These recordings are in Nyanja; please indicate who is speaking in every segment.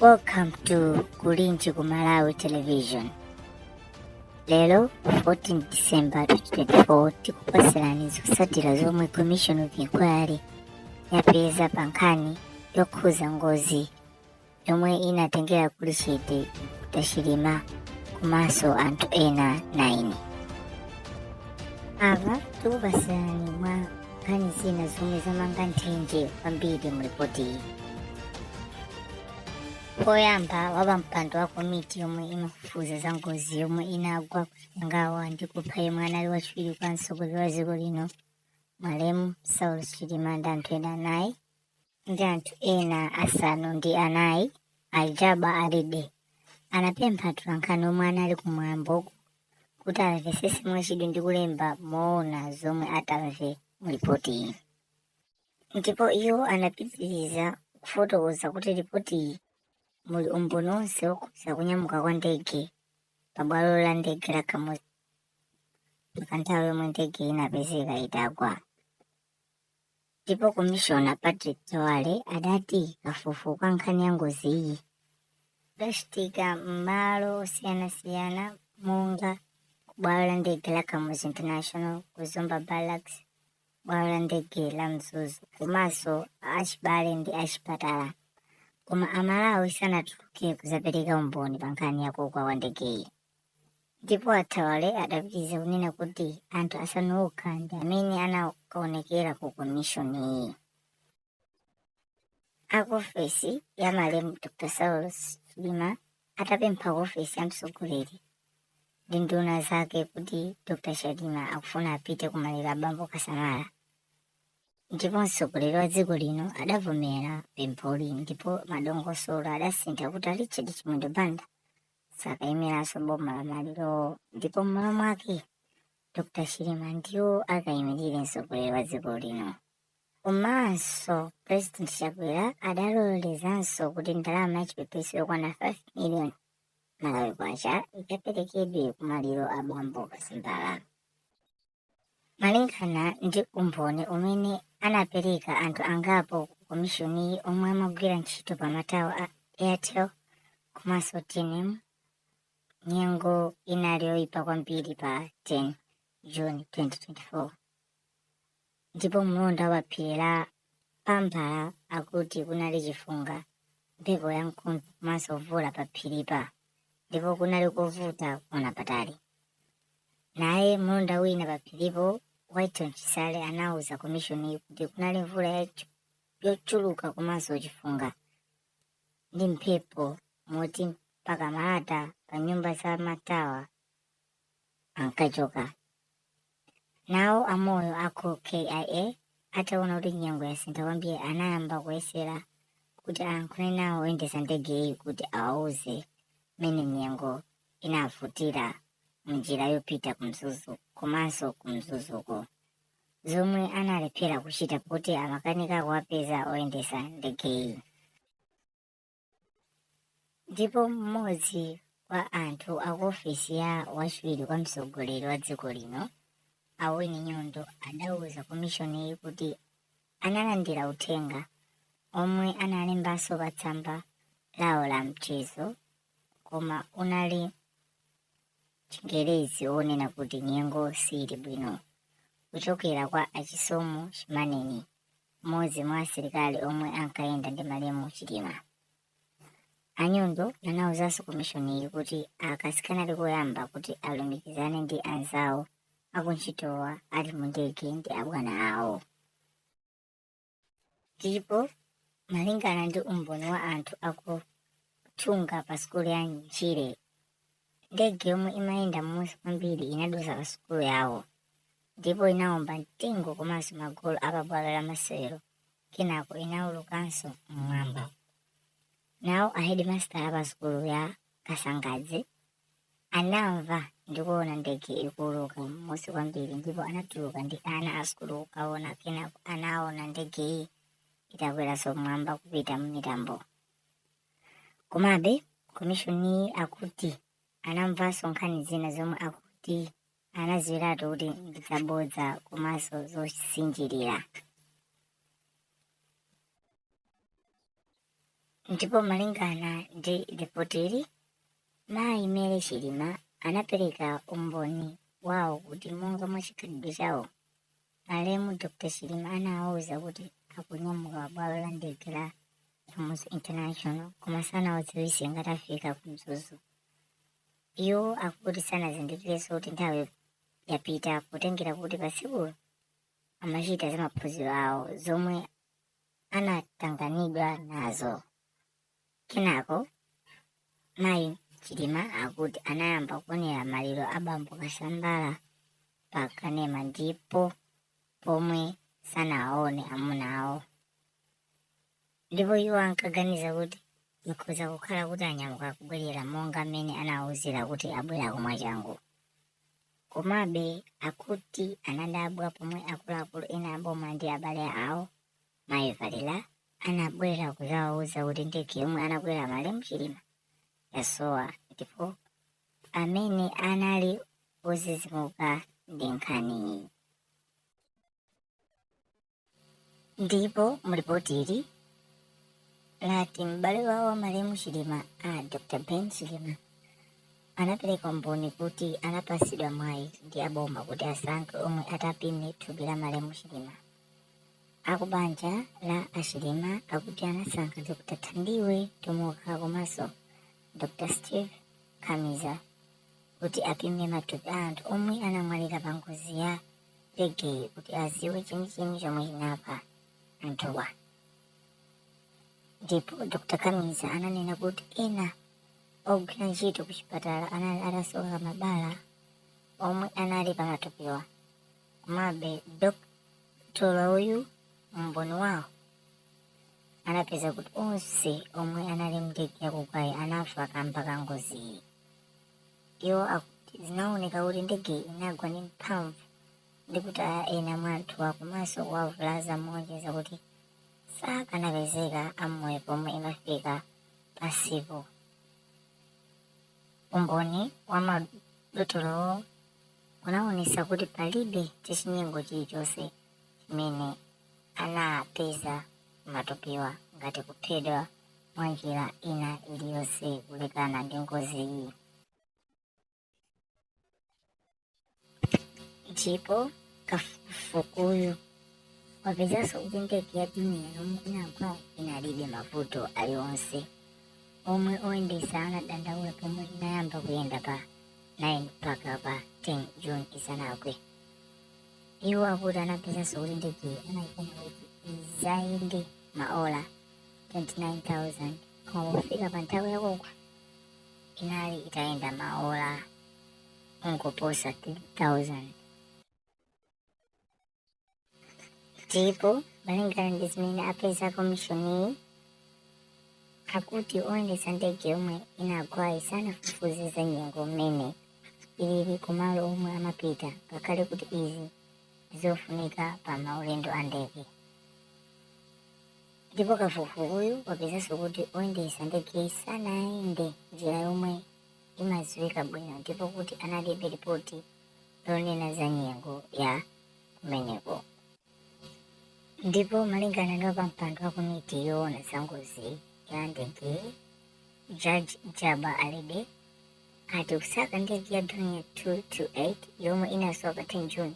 Speaker 1: Welcome to Kulinji ku Malawi Television. Lero 14 December 2024 tikupatsirani zotsatira zomwe Commission of Inquiry yapeza pa nkhani yokhuza ngozi yomwe inatengera kulichete Dr. Chilima komanso anthu ena 9 apa tikupasirani mwa nkhani zina zomwe zamanga nthenje kwambiri mu ripoti iyi poyamba wapampando wa komiti yomwe imafufuza za ngozi yomwe inagwa kuchikangawa ndi kupha yemwe anali wachiwiri kwa mtsogoleri wa dziko lino malemu saulos chilima ndi anthu ena anayi ndi anthu ena asanu ndi anayi a Jabbar Alide anapempha atolankhani omwe anali kumwambowu kuti amvetsere mwachidwi ndi kulemba moona zomwe atamve mu lipotiyi ndipo iwo anapitiriza kufotokoza kuti lipotiyi muli umboni wonse wokhudza kunyamuka kwa ndege pa bwalo la ndege la kamuzu mpaka nthawi yomwe ndege inapezeka itagwa ndipo komishona patrick thawale adati kafukufuku wa nkhani ya ngoziyi udachitika m'malo osiyanasiyana monga kubwalo la ndege la kamuzu international ku zomba barracks bwalo la ndege la mzuzu komanso achibale ndi achipatala koma amalawi sanatuluke kuzapereka umboni pa nkhani ya kugwa kwa ndegeyi Ndipo a Thawale adapitiriza kunena kuti anthu asanu okha ndi amene anakaonekera ku komishoniyi. A ku ofesi ya malemu Dr. Saulos Chilima atapempha ku ofesi ya mtsogoleri ndi nduna zake kuti Dr. Chilima akufuna apite ku maliro a bambo Kasambara. Ndipo mtsogoleri wa dziko lino adavomera pempholi ndipo madongosolo adasintha kuti a Richard Chimwendo Banda sakaimiranso boma pa malirowo ndipo m'malo mwake dr chilima ndiwo akayimirire mtsogoleri wa dziko lino komanso president chakwera adalolezanso kuti ndalama yachipepeso yokwana 5 million malawi kwacha ikaperekedwe kumaliro a bambo kasambara Malingana ndi umboni umene anapereka anthu angapo ku komishoniyi omwe amagwira ntchito pa matawa a Airtel komanso tnm, nyengo inali yoipa kwambiri pa 10 June 2024 ndipo mlonda wa phiri la Pamphala akuti kunali chifunga, mphepo yamkuntho komanso mvula pa phiri-pa ndipo kunali kovuta kuona patali. Naye mlonda wina pa phiri-po, Whiton Chisale anauza komishoni-yi kuti kunali mvula yochuluka komanso chifunga ndi mphepo moti mpaka malata pa nyumba za matawa ankachoka. Nawo a Moyo a ku KIA ataona kuti nyengo yasintha kwambiri anayamba kuyesera kuti ayankhule nawo oyendetsa ndegeyi kuti awauze mmene nyengo inavutira munjira yopita ku Mzuzu komanso ku Mzuzuko zomwe analephera kuchita pakuti amakanika kuwapeza oyendetsa ndegeyi. ndipo mmodzi wa anthu a ku ofesi ya wachiwiri kwa mtsogoleri wa dziko lino a Winnie Nyondo adauza komishoniyi kuti analandira uthenga omwe analembanso pa tsamba lawo la mchezo koma unali chingerezi wonena kuti nyengo siili bwino kuchokera kwa a Chisomo Chimaneni mmodzi mwa asilikali omwe ankayenda ndi malemu Chilima. A Nyondo anauzanso komishoniyi kuti aka sikanali koyamba kuti alumikizane ndi anzawo akuntchitowa ali mu ndege ndi abwana awo. Ndipo malingana ndi umboni wa anthu aku Thunga pa sukulu ya Ntchire Ndege yomwe imayenda m'munsi kwambiri inadutsa pa sukulu yawo ndipo inawomba mtengo komanso magolo a pabwalo la masewero kenako inaulukanso m'mwamba. Nawo a hedimasitala pa sukulu ya Kasangadzi anamva ndi kuona ndege ikuuluka m'munsi kwambiri ndipo anatuluka ndi ana a sukulu kukaona kenako anaona ndegeyi itakweranso m'mwamba kupita m'mitambo. Komabe, komishoniyi akuti anamvanso nkhani zina zomwe akuti anaziwiratu kuti ndi zabodza komanso zosinjirira. Ndipo malingana ndi lipotili, mayi Mary Chilima anapereka umboni wawo kuti monga mwa chikhalidwe chawo, Malemu Dr Chilima anawauza kuti akunyamuka pa bwalo la ndege la Kamuzu International koma sanawadziwise ngati afika ku Mzuzu. Iwo akuti sanazindikirenso kuti nthawi yapita potengera kuti pa tsikulo amachita zamaphunziro awo zomwe anatanganidwa nazo. Kenako mayi Chilima akuti anayamba kuonera maliro a bambo Kasambara pa kanema ndipo pomwe sanaone amuna awo ndipo iwo ankaganiza kuti ikhoza kukhala kuti anyamuka kubwerera monga mmene anawauzira kuti abwerako mwachangu. Komabe akuti anadabwa pomwe akuluakulu ena a boma ndi abale awo mayi valera anabwera kuzawauza kuti ndege yomwe anakwera malemu chilima yasowa ndipo amene anali ozizimuka ndi nkhaniyi ndipo mulipoti ili lati m'bale wawo wa malemu chilima a dr ben chilima anapereka umboni kuti anapatsidwa mwayi ndi aboma kuti asankhe omwe atapime thupi la malemu chilima Aku banja la a Chilima akuti anasankha Dr Tamiwe Tomoka komanso Dr Steve Kamiza kuti apime matupi a anthu omwe anamwalira pa ngozi ya ndegeyi kuti aziwe chenicheni chomwe chinapha anthuwa. Ndipo Dr Kamiza ananena kuti ena ogwira ntchito ku chipatala anali atasoka mabala omwe anali pa matupiwa. Komabe, dokotala uyu, umboni wawo, anapeza kuti onse omwe anali m'ndege yakugwayi anafa kaamba ka ngoziyi. Iwo akuti zinaoneka kuti ndegeyi inagwa ndi mphamvu ndi kutaya ena mwa anthuwa komanso kuwavulaza moonjeza kuti sakanapezeka amoyo pomwe imafika pansipo. Umboni wa madotolowo unawonesa kuti palibe chachinyengo chilichonse chimene anapeza m'matupiwa ngati kuphedwa mwa njira ina iliyose kulekana ndi ngoziyi. ndipo kafukufukuyu wapezanso kuti ndege ya dornier yomwe inagwayo inalibe mavuto alionse omwe oyendetsa anadandaula pomwe inayamba kuyenda pa 9 mpaka pa 10 june isanagwe iwo akuti anapezanso kuti ndegeyi anayikonza kuti izayende maola 29000 koma pofika pa nthawi yakugwa inali itayenda maola ngoposa 3,000 ndipo malingana ndi zimene apeza komishoniyi akuti oyendetsa ndege yomwe inagwayi sanafufuze za nyengo mmene ilili kumalo omwe amapita ngakhale kuti izi n'zofunika pa maulendo a ndege ndipo kafukufukuyu wapezanso kuti oyendetsa ndegeyi sanayende njira yomwe imadziwika bwino ndipo kuti analibe lipoti lonena za nyengo ya kumeneko. Ndipo malingana ndi wapampando wa komiti yoona za ngozi ya ndege Judge Jabbar Alide ati kusaka ndege ya Dornier 228 yomwe inasowa pa 10 June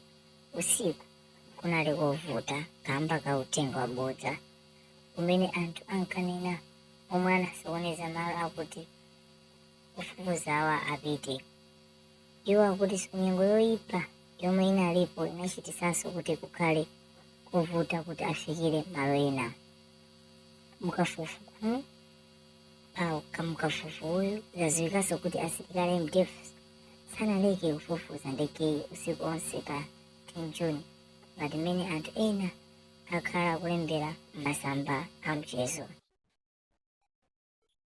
Speaker 1: usiku kunali kovuta kamba ka uthenga wabodza umene anthu ankanena omwe anasokoneza malo akuti ofufuzawa apite iwo akuti nyengo yoyipa yomwe inalipo inachitisanso kuti kukhale kovuta kuti afikire malo ena mukafukufukuyu zadziwikanso kuti asilikali a mdf sanaleke kufufuza ndegeyi usiku onse pa 10 juni ngati mmene anthu ena akhala akulembera m'masamba a mchezo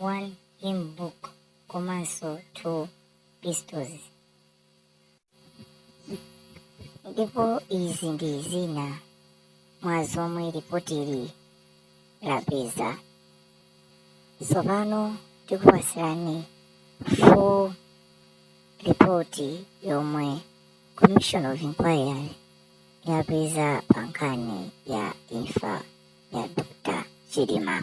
Speaker 1: 1 Hymn Book komanso 2 Pistols. Ndipo izi ndi zina mwa zomwe lipotili lapeza. Tsopano tikupatsirani full report yomwe Commission of Inquiry yapeza pa nkhani ya imfa ya Dr. Chilima.